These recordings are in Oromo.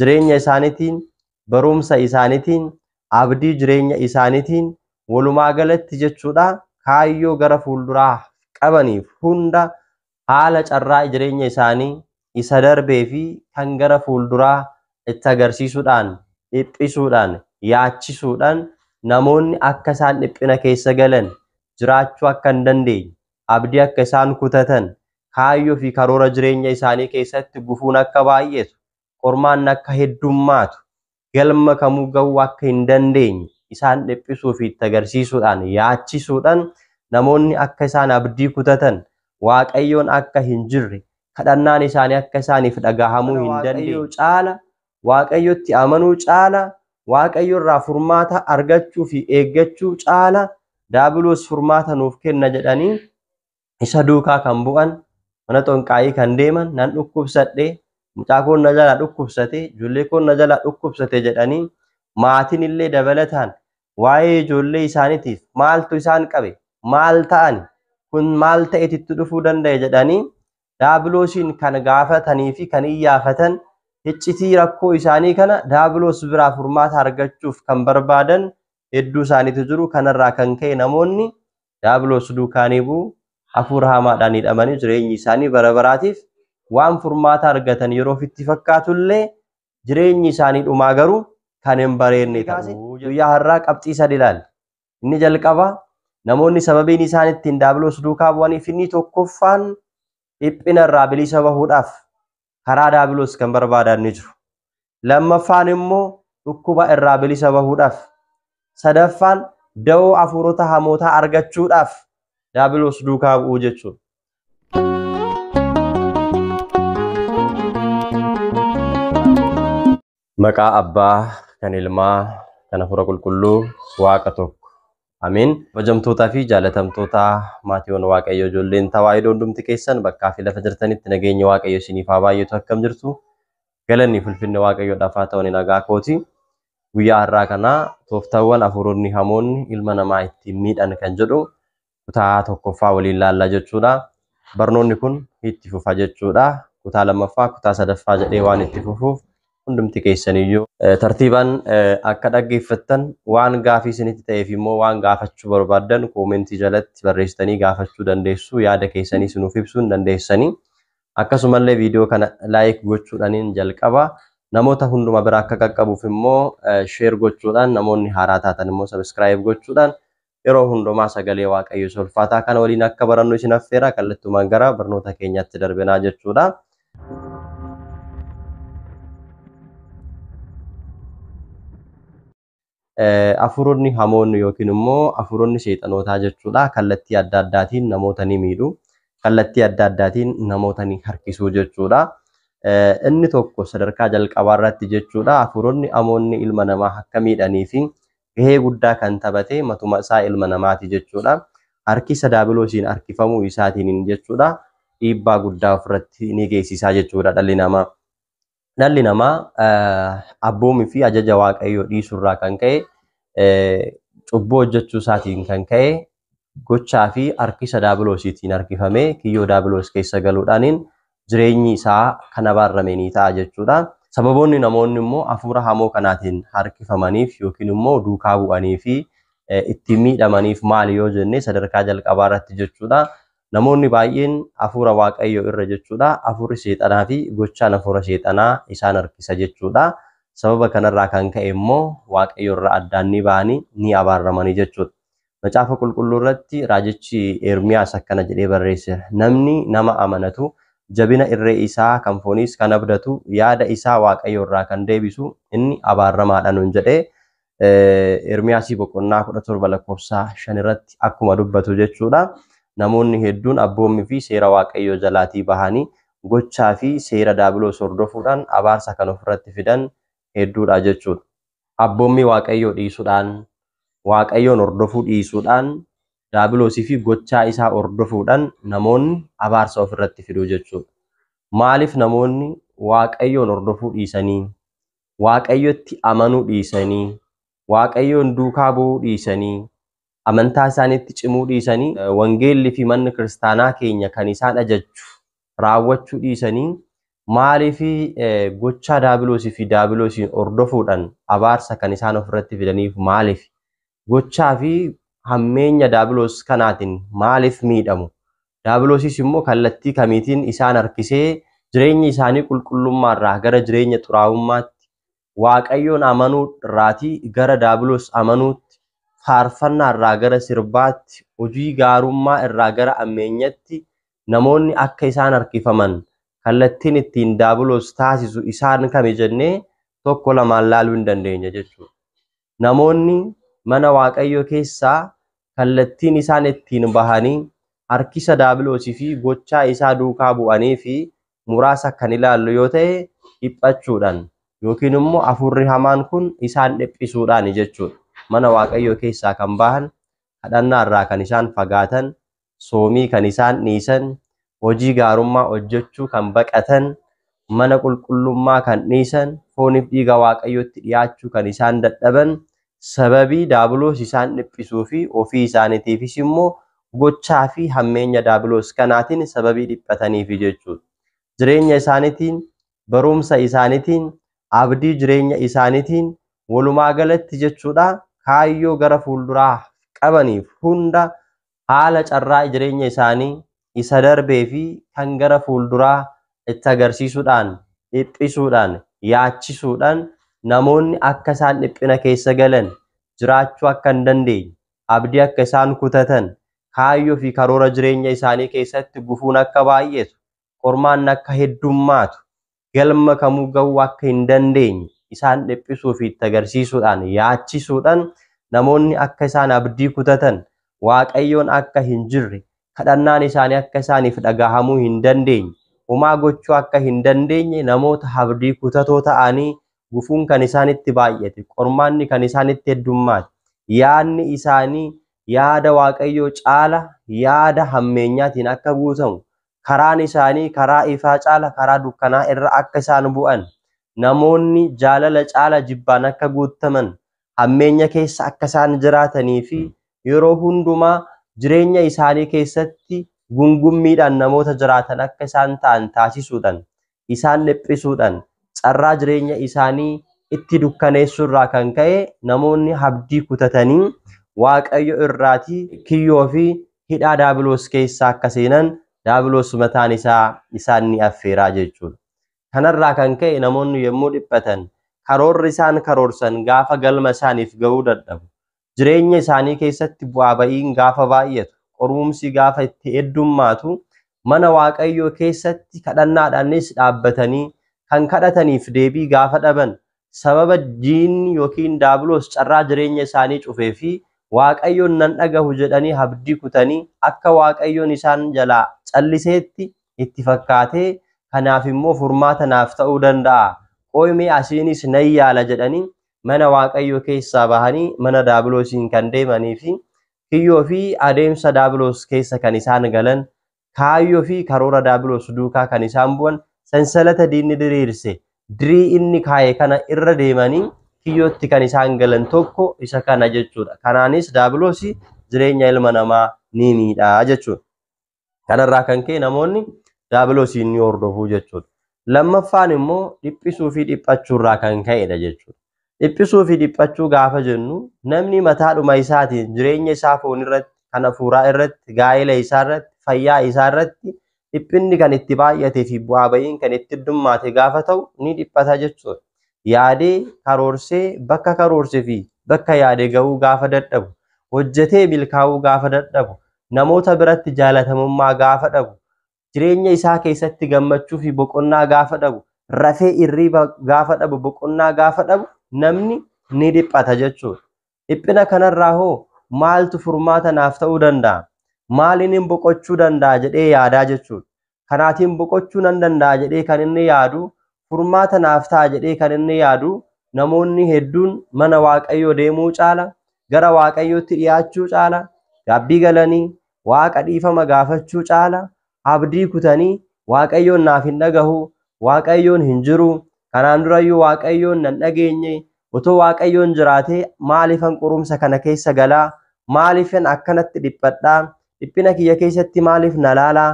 jireenya isaanitiin, barumsa isaanitiin, abdii jireenya isaanitiin walumaa galatti jechuudha kaayyoo gara fuulduraa qabaniif hunda haala carraa jireenya isaanii isa darbee fi kan gara fuulduraa itti agarsiisuudhaan dhiphisuudhaan yaachisuudhaan namoonni akka isaan dhiphina keessa galan jiraachuu akka hin dandeenye abdii akka isaan kutatan, kaayyoo fi karoora jireenya isaanii keessatti gufuun akka baay'etu, qormaanni akka heddummaatu, galma kamuu gahuu akka hin dandeenye isaan dhiphisuu fi itti agarsiisuudhaan, yaachisuudhan namoonni akka isaan abdii kutatan, Waaqayyoon akka hin jirre, kadhannaan isaanii akka isaaniif dhagahamuu hin dandeenye, caala waaqayyotti amanuu caala waaqayyo irraa furmaata argachuu fi eeggachuu caala daabiloos furmaata nuuf kenna jedhanii isa duukaa kan bu'an mana xonqaayii kan deeman nan dhukkubsadhe mucaa koon na jalaa dhukkubsate ijoollee koon na jalaa dhukkubsate jedhanii maatiin illee dabalataan waa'ee ijoollee isaaniitiif maaltu isaan qabe maal ta'ani kun maal ta'eetitti dhufuu danda'e jedhanii daabiloosiin kan gaafatanii fi kan iyyaafatan hiccitii rakkoo isaanii kana daabiloos biraa furmaata argachuuf kan barbaadan hedduu isaaniitu jiru kanarraa kan ka'e namoonni daabiloos duukaanii bu'u hafuura hamaadhaan hidhamanii jireenyi isaanii bara baraatiif waan furmaata argatan yeroo ofitti fakkaatullee jireenyi isaanii dhumaa garuu kan hin bareenne ta'u guyyaa har'aa qabxii sadi ilaali Inni jalqabaa namoonni sababiin isaan ittiin daabiloos duukaa bu'aniif inni tokkoffaan dhiphina irraa bilisa bahuudhaaf karaa daabiloos kan barbaadan ni jiru. Lammaffaan immoo dhukkuba irraa bilisa bahuudhaaf. Sadaffaan da'oo hafuurota hamootaa argachuudhaaf daabiloos duukaa bu'uu jechuudha. Maqaa Abbaa, kan Ilmaa, kan Hafuura Qulqulluu, Waaqa tokko. Ameen. Kabajamtootaa fi jaalatamtoota maatiiwwan Waaqayyoo ijoolleen Tawaahidoo hundumti keessan bakkaa fi lafa jirtanitti nageenyi Waaqayyo isiniif haa baay'atu akkam jirtu. Galanni fulfinni Waaqayyoodhaaf haa ta'u nagaa kooti. Guyyaa har'aa kana tooftaawwan hafuuronni hamoonni ilma namaa ittiin miidhan kan jedhu kutaa tokkoffaa waliin laallaa jechuudha. Barnoonni kun itti fufa jechuudha. Kutaa lammaffaa, kutaa sadaffaa jedhee waan itti fufuuf hundumti keessaniyyuu tartiibaan akka dhaggeeffattan waan gaafii isinitti ta'eef immoo waan gaafachuu barbaaddan koomentii jalatti barreessitanii gaafachuu dandeessu. Yaada keessanii sinuuf ibsuu hin dandeessanii. Akkasumallee viidiyoo kana laayik gochuudhaaniin jalqaba. Namoota hunduma bira akka qaqqabuuf immoo sheer gochuudhaan namoonni haaraa taatan immoo sabiskiraayib gochuudhaan yeroo hundumaa sagalee waaqayyo isa ulfaataa kana waliin akka barannu isin affeera kallattumaan gara barnoota keenyatti darbinaa jechuudha. Afuuronni hamoonni yookiin immoo afuuronni seexanootaa jechuudha kallattii adda addaatiin namoota ni miidhu kallattii adda addaatiin namoota ni harkisuu jechuudha. Inni tokko sadarkaa jalqabaa irratti jechuudha afuuronni hamoonni ilma namaa akka miidhanii fi gahee guddaa kan taphate matuma isaa ilma namaati jechuudha. Harkisa daabiloosiin harkifamuu isaatiin jechuudha dhiibbaa guddaa ofirratti ni geessisaa jechuudha dhalli namaa. Dhalli namaa abboomii fi ajaja waaqayyoo dhiisurraa kan ka'e cubbuu hojjechuu isaatiin kan ka'e gochaa fi harkisa daabiloosiitiin harkifamee kiyyoo daabiloos keessa galuudhaaniin jireenyi isaa kan abaarrame ni ta'a jechuudha. Sababoonni namoonni immoo hafuura hamoo kanaatiin harkifamaniif yookiin immoo duukaa bu'anii fi ittiin miidhamaniif maali yoo jenne sadarkaa jalqabaa irratti jechuudha. Namoonni baay'een hafuura waaqayyoo irra jechuudha hafuurri seexanaa fi gochaan hafuura seexanaa isaan harkisa jechuudha. Sababa kanarraa kan ka'e immoo waaqayyo irraa addaan ni ba'anii ni abaarramanii jechuudha. Macaafa qulqulluu irratti raajichi Ermiyaas akkana jedhee barreesseera. Namni nama amanatu jabina irree isaa kan fooniis kan abdatu yaada isaa waaqayyo irraa kan deebisu inni abaarramaadha nuun jedhee Ermiyaasii boqonnaa 17 lakkoofsa 5 irratti akkuma dubbatu jechuudha. Namoonni hedduun abboommii fi seera waaqayyoo jalaatii bahanii gochaa fi seera daabiloos hordofuudhaan abaarsa kan ofirratti fidan hedduudha jechuudha. abboommii Waaqayyoo dhiisudhaan, Waaqayyoon hordofuu dhiisuudhaan, daabiloosii fi gochaa isaa hordofuudhan namoonni abaarsa of irratti fiduu jechuudha. Maaliif namoonni Waaqayyoon hordofuu dhiisanii, Waaqayyotti amanuu dhiisanii, Waaqayyoon duukaa bu'uu dhiisanii amantaa isaaniitti cimuu dhiisanii wangeelli fi manni kiristaanaa keenya kan isaan ajajju raawwachuu dhiisanii maaliif gochaa daabiloosii fi daabiloosiin hordofuudhaan abaarsa kan isaan ofirratti fidaniif maaliif gochaa fi hammeenya daabiloos kanaatiin maaliif miidhamu daabiloosiis immoo kallattii kamiitiin isaan harkisee jireenya isaanii qulqullummaarraa gara jireenya xuraa'ummaatti Waaqayyoon amanuu irraatii gara daabiloos amanuutti, faarfannaa irraa gara sirbaatti, hojii gaarummaa irraa gara ammeenyatti namoonni akka isaan harkifaman kallattiin ittiin daabiloos taasisu isaan kami jennee tokko lamaan laaluu hin dandeenya jechuudha. namoonni mana Waaqayyoo keessaa kallattiin isaan ittiin bahanii harkisa daabiloosii fi gochaa isaa duukaa bu'anii fi muraasa kan ilaallu yoo ta'e dhiphachuudhaan yookiin immoo afurri hamaan kun isaan dhiphisuudhaan jechuudha. Mana Waaqayyoo keessaa kan bahan kadhannaa irraa kan isaan fagaatan soomii kan isaan dhiisan, hojii gaarummaa hojjechuu kan baqatan, mana qulqullummaa kan dhiisan, fooniif dhiiga Waaqayyootti dhiyaachuu kan isaan dadhaban, sababii daabiloos isaan dhiphisuu fi ofii isaaniitiifis immoo gochaa fi hammeenya daabiloos kanaatiin sababii dhiphataniifi jechuudha. Jireenya isaaniitiin, barumsa isaaniitiin, abdii jireenya isaaniitiin walumaa galatti jechuudha kaayyoo gara fuulduraa qabaniif hunda haala carraa jireenya isaanii isa darbee fi kan gara fuulduraa itti agarsiisuudhaan, dhiphisuudhaan, yaachisuudhaan namoonni akka isaan dhiphina keessa galan, jiraachuu akka hin dandeenye, abdii akka isaan kutatan, kaayyoo fi karoora jireenya isaanii keessatti gufuun akka baay'eetu qormaanni akka heddummaatu, galma kamuu gahuu akka hin dandeenye isaan dhiphisuu fi itti agarsiisuudhaan, yaachisuudhaan namoonni akka isaan abdii kutatan, Waaqayyoon akka hin jirre, kadhannaan isaanii akka isaaniif dhagahamuu hin dandeenye, homaa gochuu akka hin dandeenye namoota abdii kutatoo ta'anii gufuun kan isaanitti baay'ate, qormaanni kan isaanitti heddummaate, yaadni isaanii yaada Waaqayyoo caala yaada hammeenyaatiin akka guutamu, karaan isaanii karaa ifaa caala karaa dukkanaa irra akka isaan bu'an, namoonni jaalala caala jibbaan akka guuttaman, hammeenya keessa akka isaan jiraatanii fi yeroo hundumaa jireenya isaanii keessatti gungummiidhaan namoota jiraatan akka isaan ta'an taasisuudhaan isaan dhiphisuudhaan carraa jireenya isaanii itti dukkaneessuu irraa kan ka'e namoonni abdii kutatanii Waaqayyo irraati kiyyoo fi hidhaa daabiloos keessa akka seenan daabiloos mataan isaa isaan ni affeeraa jechuudha. Kanarraa kan ka'e namoonni yommuu dhiphatan karoorri isaan karoorsan gaafa galma isaaniif ga'uu dadhabu. jireenya isaanii keessatti bu'aa ba'iin gaafa baay'atu, qorumsi gaafa itti heddummaatu, mana Waaqayyoo keessatti kadhannaadhaanis dhaabbatanii kan kadhataniif deebii gaafa dhaban, sababa diinni yookiin daabiloos carraa jireenya isaanii cufee fi Waaqayyoon nan dhagahu jedhanii abdii kutanii akka Waaqayyoon isaan jalaa calliseetti itti fakkaatee kanaaf immoo furmaata naaf ta'uu danda'a, qoy mee asiinis nan yaala jedhanii mana waaqayyoo keessaa bahanii mana daabiloosiin kan deemanii fi kiyyoo fi adeemsa daabiloos keessa kan isaan galan kaayyoo fi karoora daabiloos duukaa kan isaan bu'an sansalata diinni diriirse dirii inni kaa'e kana irra deemanii kiyyootti kan isaan galan tokko isa kana jechuudha. Kanaanis daabiloosi jireenya ilma namaa ni miidha jechuudha. Kanarraa kan ka'e namoonni daabiloosiin ni hordofuu jechuudha. Lammaffaan immoo dhiphisuu fi dhiphachuurraa kan ka'edha jechuudha. Dhiphisuu fi dhiphachuu gaafa jennu namni mataadhuma isaatiin jireenya isaa foon irratti, kan hafuuraa irratti, gaa'ela isaa irratti, fayyaa isaa irratti dhiphinni kan itti baay'atee fi bu'aa ba'iin kan itti heddummaate gaafa ta'u ni dhiphata jechuudha. Yaadee karoorsee bakka karoorse fi bakka yaade ga'uu gaafa dadhabu, hojjetee milkaa'uu gaafa dadhabu, namoota biratti jaalatamummaa gaafa dhabu, jireenya isaa keessatti gammachuu fi boqonnaa gaafa dhabu, rafee irriiba gaafa dhabu, boqonnaa gaafa dhabu namni ni dhiphata jechuudha. Dhiphina kanarraa hoo maaltu furmaata naaf ta'uu danda'a? Maaliin hin boqochuu danda'a jedhee yaadaa jechuudha. kanaatiin boqochuu nan danda'a jedhee kan inni yaadu furmaata naaf ta'a jedhee kan inni yaadu namoonni hedduun mana waaqayyoo deemuu caala gara waaqayyootti dhiyaachuu caala gaabbii galanii waaqa dhiifama gaafachuu caala abdii kutanii waaqayyoon naaf hin dhagahu waaqayyoon hin jiru kanaan durayyuu waaqayyoon nan dhageenye Otoo Waaqayyoon jiraatee maaliifan qorumsa kana keessa galaa? Maaliifan akkanatti dhiphadhaa? Dhiphina kiyya keessatti maaliif na laalaa?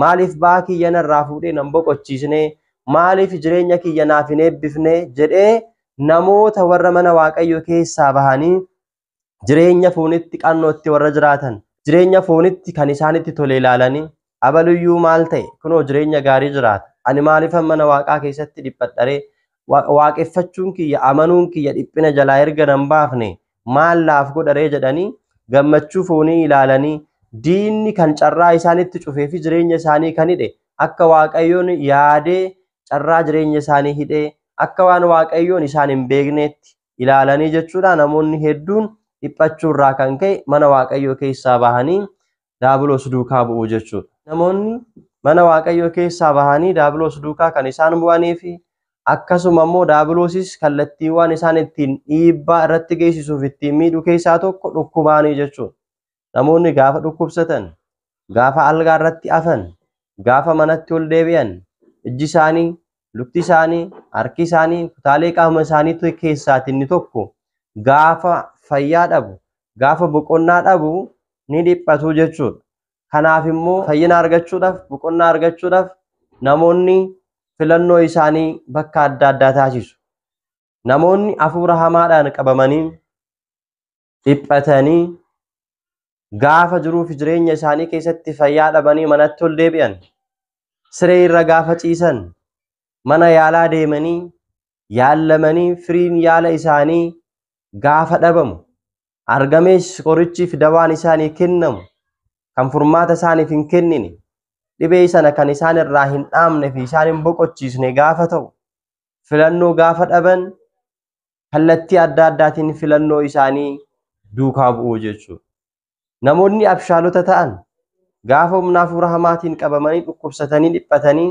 Maaliif ba'aa kiyya narraa fuudhee nan boqochiisne? Maaliif jireenya kiyya naaf hin eebbifne? jedhee namoota warra mana Waaqayyoo keessaa bahanii jireenya foonitti qannootti warra jiraatan jireenya foonitti kan isaanitti tole ilaalanii abaluyyuu maal ta'e kunoo jireenya gaarii jiraata ani maaliifan mana waaqaa keessatti dhiphadharee waaqeffachuun kiyya amanuun kiyya dhiphina jalaa erga nan baafne maal naaf godharee jedhanii gammachuu foonii ilaalanii diinni kan carraa isaanitti cufee fi jireenya isaanii kan hidhe akka waaqayyoon yaadee carraa jireenya isaanii hidhee akka waan waaqayyoon isaan hin beekneetti ilaalanii jechuudha namoonni hedduun dhiphachuu irraa kan ka'e mana waaqayyoo keessaa bahanii daabiloos duukaa bu'u jechuudha. Namoonni mana waaqayyoo keessaa bahanii daabiloos duukaa kan isaan bu'anii fi akkasuma immoo daabiloosis kallattiiwwan isaan ittiin dhiibbaa irratti geessisuuf ittiin miidhu keessaa tokko dhukkubaanii jechuudha. namoonni gaafa dhukkubsatan, gaafa algaa irratti afan, gaafa manatti ol deebi'an, ijji isaanii, lukti isaanii, harki isaanii, kutaalee qaama isaanii keessaati inni tokko gaafa fayyaa dhabu, gaafa boqonnaa dhabu ni dhiphatu jechuudha. Kanaaf immoo fayyina argachuudhaaf, boqonnaa argachuudhaaf namoonni filannoo isaanii bakka adda addaa taasisu. Namoonni hafuura hamaadhaan qabamanii dhiphatanii gaafa jiruu fi jireenya isaanii keessatti fayyaa dhabanii manatti ol deebi'an siree irra gaafa ciisan mana yaalaa deemanii yaallamanii firiin yaala isaanii gaafa dhabamu argamees qorichii fi dawaan isaanii kennamu kan furmaata isaaniif hin kennine dhibee sana kan isaan irraa hin dhaamne fi isaan hin boqochiisne gaafa ta'u filannoo gaafa dhaban kallattii adda addaatiin filannoo isaanii duukaa bu'uu jechuudha. Namoonni abshaalota ta'an gaafa humna hafuura hamaatiin qabamanii dhukkubsatanii dhiphatanii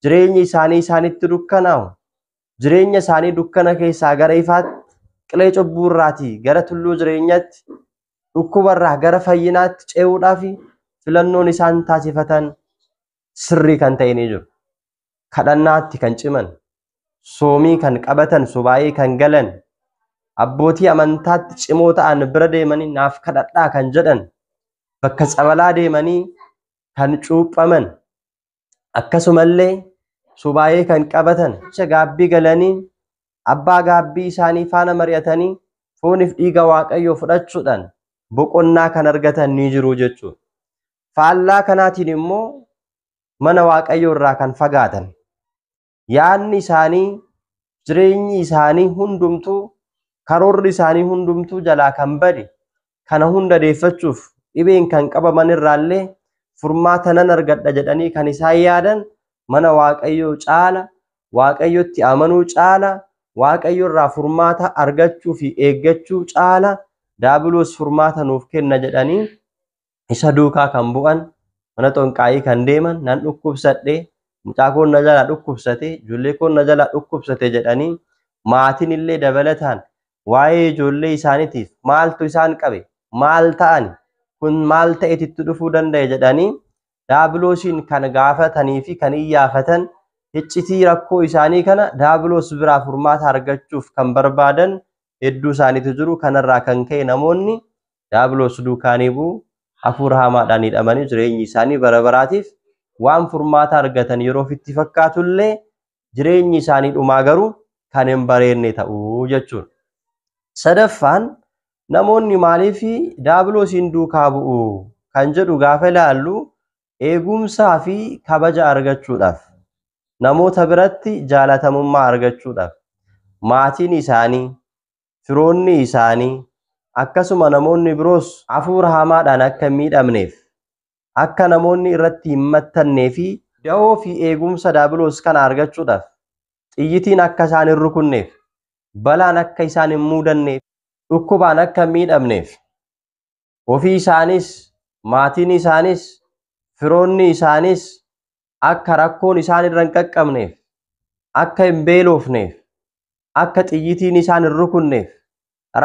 jireenyi isaanii isaanitti dukkanaa'u jireenya isaanii dukkana keessaa gara ifaatti qilee cubbuu irraatii gara tulluu jireenyatti dhukkuba irraa gara fayyinaatti ce'uudhaaf filannoon isaan taasifatan sirrii kan ta'e ni jiru. Kadhannaatti kan ciman, soomii kan qabatan, subaayee kan galan, abbootii amantaatti cimoo ta'an bira deemanii naaf kadhadhaa kan jedhan, bakka tsabalaa deemanii kan cuuphaman, akkasumallee subaayee kan qabatan, jecha gaabbii galanii abbaa gaabbii isaanii faana mari'atanii fooniif dhiiga waaqayyoo fudhachuudhaan boqonnaa kan argatan ni jiru jechuudha. faallaa kanaatiin immoo mana waaqayyoo irraa kan fagaatan yaadni isaanii jireenyi isaanii hundumtuu karoorri isaanii hundumtuu jalaa kan bade kana hunda deeffachuuf dhibeen kan qabaman irraallee furmaata nan argadha jedhanii kan isaan yaadan mana waaqayyoo caala waaqayyotti amanuu caala waaqayyo irraa furmaata argachuu fi eeggachuu caala daabiloos furmaata nuuf kenna jedhanii isa duukaa kan bu'an mana xonqaayii kan deeman nan dhukkubsadhe mucaa koon na jalaa dhukkubsate ijoollee koon na jalaa dhukkubsate jedhanii maatiin illee dabalataan waa'ee ijoollee isaaniitiif maaltu isaan qabe maal ta'ani kun maal ta'eeti itti dhufuu danda'e jedhanii daabiloosiin kan gaafatanii fi kan iyyaafatan hiccitii rakkoo isaanii kana daabiloos biraa furmaata argachuuf kan barbaadan hedduu isaaniitu jiru kanarraa kan ka'e namoonni Daabiloos duukaanii bu'u, hafuura hamaadhaan hidhamanii jireenyi isaanii bara baraatiif waan furmaata argatan yeroo ofitti fakkaatu illee jireenyi isaanii dhumaa garuu kan hin bareedne ta'u jechuudha. Sadaffaan namoonni maaliif daabiloosiin duukaa bu'u kan jedhu gaafa ilaallu eegumsaa fi kabaja argachuudhaaf, namoota biratti jaalatamummaa argachuudhaaf, maatiin isaanii, firoonni isaanii, akkasuma namoonni biroos hafuura hamaadhaan akka hin miidhamneef, akka namoonni irratti hin mattannee fi dahoo fi eegumsa daabiloos kana argachuudhaaf xiyyitiin akka isaan hin rukunneef, balaan akka isaan hin muudanneef, dhukkubaan akka hin miidhamneef, Ofii isaaniis, maatiin isaaniis, firoonni isaaniis akka rakkoon isaan irra hin qaqqabneef, akka hin beelofneef, akka xiyyitiin isaan hin rukunneef,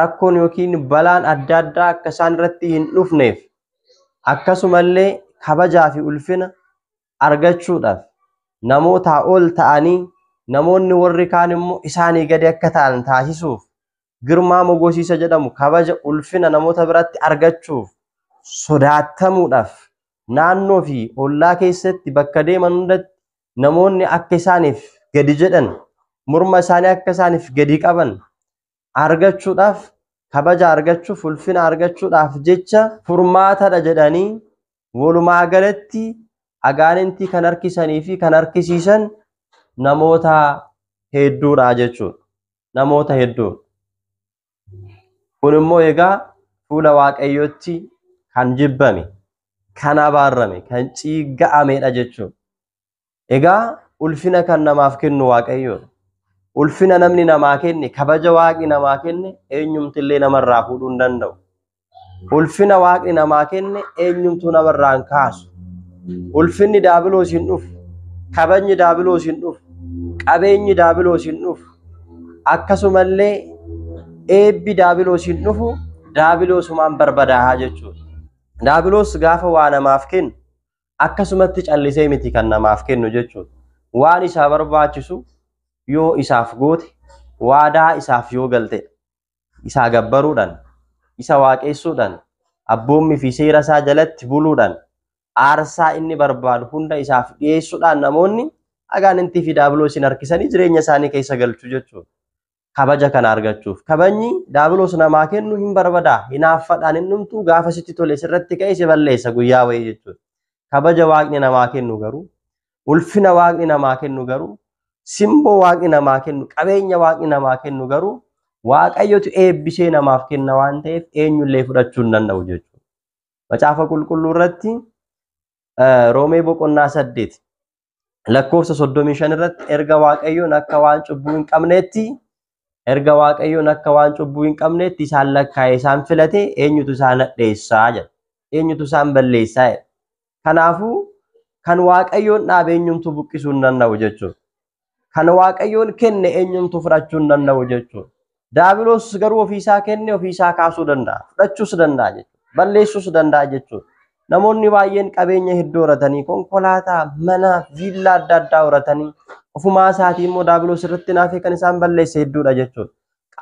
rakkoon yookiin balaan adda addaa akka isaan irratti hin dhufneef, akkasumallee kabajaa fi ulfina argachuudhaaf namootaa ol ta'anii namoonni warri kaan immoo isaanii gadi akka ta'an taasisuuf Girmaa Mogosiisa jedhamu kabaja ulfina namoota biratti argachuuf sodaattamuudhaaf naannoo fi ollaa keessatti bakka deeman hundatti namoonni akka isaaniif gadi jedhan morma isaanii akka isaaniif gadi qaban argachuudhaaf kabaja argachuuf ulfina argachuudhaaf jecha furmaatadha jedhanii Walumaa galatti agaanintii kan harkisanii fi kan harkisiisan namoota hedduudha jechuudha. Namoota hedduudha. Kun immoo egaa fuula waaqayyootti kan jibbame, kan abaarame, kan ciigga'amedha jechuudha. Egaa ulfina kan namaaf kennu waaqayyoodha. Ulfina namni namaa kenne, kabaja waaqni namaa kenne eenyumti illee namarraa fuudhuu hin danda'u. Ulfina waaqni namaa kenne eenyumtuu namarraa hin kaasu. Ulfinni daabiloos hin dhufu. Kabajni daabiloos hin dhufu. Qabeenyi daabiloos hin dhufu. Akkasumallee eebbi daabiloos hin dhufu. Daabiloosumaan barbadaahaa jechuudha. Daabiloos gaafa waa namaaf kennu akkasumatti callisee miti kan namaaf kennu jechuudha. Waan isaa barbaachisu yoo isaaf goote, waadaa isaaf yoo galte, isaa gabbaruudhaan, isa waaqessuudhaan, abboommii fi seera isaa jalatti buluudhaan, aarsaa inni barbaadu hunda isaaf dhiyeessuudhaan namoonni agaanintii fi daabiloosiin harkisanii jireenya isaanii keessa galchu jechuudha. kabaja kana argachuuf kabajni daabiloos namaa kennu hin barbadaa hinaaffadhaan hin dhumtuu gaafa sitti tole sirratti ka'e si balleessa guyyaa wayii jechuudha. Kabaja waaqni namaa kennu garuu ulfina waaqni namaa kennu garuu simboo waaqni namaa kennu qabeenya waaqni namaa kennu garuu waaqayyotu eebbisee namaaf kenna waan ta'eef eenyullee fudhachuu hin danda'u jechuudha. Macaafa qulqulluu irratti Roomee boqonnaa saddeet lakkoofsa 35 irratti erga waaqayyoon akka waan cubbuu hin qabneetti erga waaqayyoon akka waan cubbuu hin qabneetti isaan lakkaa'e isaan filate eenyutu isaan hadheessaa jedha eenyutu isaan balleessaa jedha kanaafuu kan waaqayyoon dhaabe eenyumtu buqqisuu hin danda'u jechuudha kan waaqayyoon kenne eenyumtu fudhachuu hin danda'u jechuudha Daabiloos garuu ofii isaa kenne ofii isaa kaasuu danda'a. Fudhachuus danda'a jechuudha. Balleessuus danda'a jechuudha. Namoonni baay'een qabeenya hedduu horatanii konkolaataa, mana, viillaa adda addaa horatanii ofumaa isaatii immoo daabiloos irratti naafee kan isaan balleesse hedduudha jechuudha.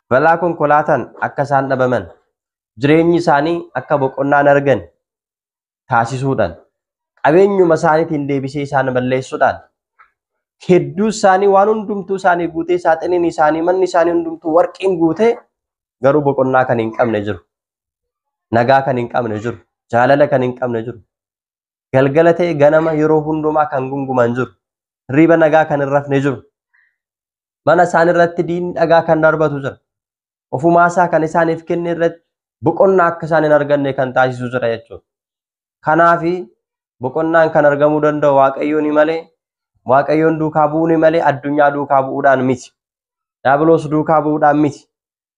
Balaa konkolaataan akka isaan dhabaman, jireenyi isaanii akka boqonnaa hin argane, taasisuudhaan qabeenyuma isaaniitiin deebisee isaan balleessuudhaan hedduu isaanii waan hundumtuu isaanii guutee saaxiniin isaanii manni isaanii hundumtuu warqiin guutee garuu boqonnaa kan hin qabne jiru. Nagaa kan hin qabne jiru. Jaalala kan hin qabne jiru. Galgala ta'e ganama yeroo hundumaa kan gunguman jiru. Hirriba nagaa kan hin rafne jiru. Mana isaanii irratti diinni dhagaa kan darbatu jira. ofumaasaa kan isaaniif kenne irratti boqonnaa akka isaan hin arganne kan taasisu jira jechuudha. Kanaaf boqonnaan kan argamuu danda'u waaqayyoon malee waaqayyoon duukaa bu'uun malee addunyaa duukaa bu'uudhaan miti. Daabiloos duukaa bu'uudhaan miti.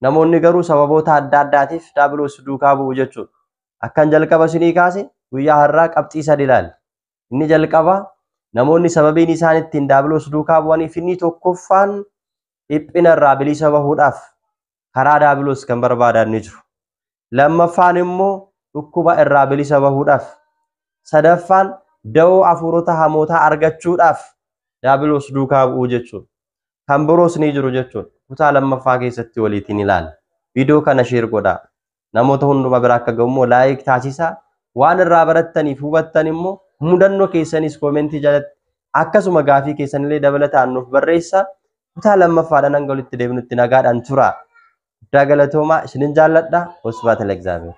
Namoonni garuu sababoota adda addaatiif daabiloos duukaa bu'u jechuudha. Akkan jalqaba isinii kaase guyyaa har'aa qabxii sadi ilaali. Inni jalqabaa namoonni sababiin isaan ittiin daabiloos duukaa bu'aniif inni tokkoffaan dhiphina irraa bilisa bahuudhaaf karaa daabiloos kan barbaadan ni jiru. Lammaffaan immoo dhukkuba irraa bilisa bahuudhaaf. Sadaffaan da'oo hafuurota hamootaa argachuudhaaf daabiloos duukaa bu'uu jechuudha. Kan biroos ni jiru jechuudha. Kutaa lammaffaa keessatti waliitiin ilaalla. Viidiyoo kana sheer godhaa. namoota hunduma bira akka ga'u immoo laayik taasisaa waan irraa barattaniif hubattan immoo mudannoo keessanis koomentii jalatti akkasuma gaafii keessanillee dabalataan nuuf barreessaa kutaa lammaffaadhaan hanga walitti deebinutti nagaadhaan tura guddaa galatoomaa isinin jaalladha wasbaata legzaabeer